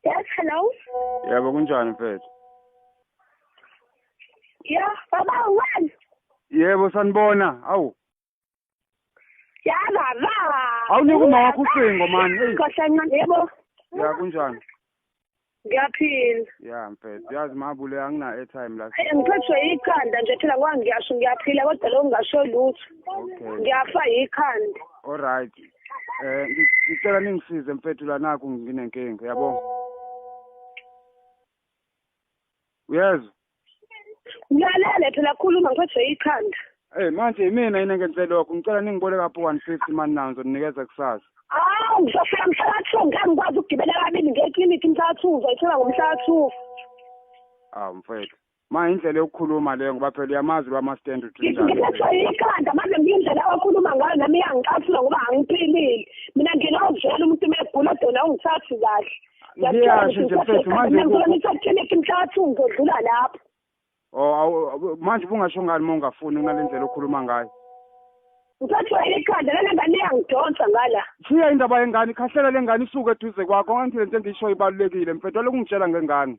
Yes, hello. Yebo kunjani mfethu? Yeah, baba wena. Yebo sanibona. Awu. yalala awunike uma wakho ucingo mani eyi yebo ya kunjani ngiyaphila ya mfethu yazi mabule angina-airtime la ngiphethwe yikhanda nje phela ngoba ngiyasho ngiyaphila kodwa lo ngingasho lutho ngiyafa yikhanda all right um eh, ngicela ningisize mfethu la nakho nginenkinga yabona uyezwa ngilalele phela khuluma ngiphethe ikhanda Hey manje imina yini engenzele lokho ngicela ningibole kapho 150 mani nazo ninikeza kusasa Hawu ngizofika mhla ka 2 ngeke ngikwazi ukugibela kabili ngiye eclinic mhla ka 2 uzoyithola ngomhla ka 2 Ah mfethu ma indlela yokukhuluma leyo ngoba phela uyamazi lo ama stand utrinda ngiphethe ikhanda manje ngiyindlela okhuluma ngayo nami iyangicasula ngoba angiphilile mina ngilozela umuntu megula dona ungithathi kahle ngiyasho nje mfethu manje ngisakhelethi mhlathi ngizodlula lapho oh manje ubungasho ngani uma ungafuni kunale ndlela okhuluma ngayo ngisathwele ikhanda lena ngane iyangidonsa ngala shiya indaba yengane ikhahlela lengane isuke eduze kwakho ngangithile nto engiyishoyo ibalulekile mfethu walokhu ngitshela ngengane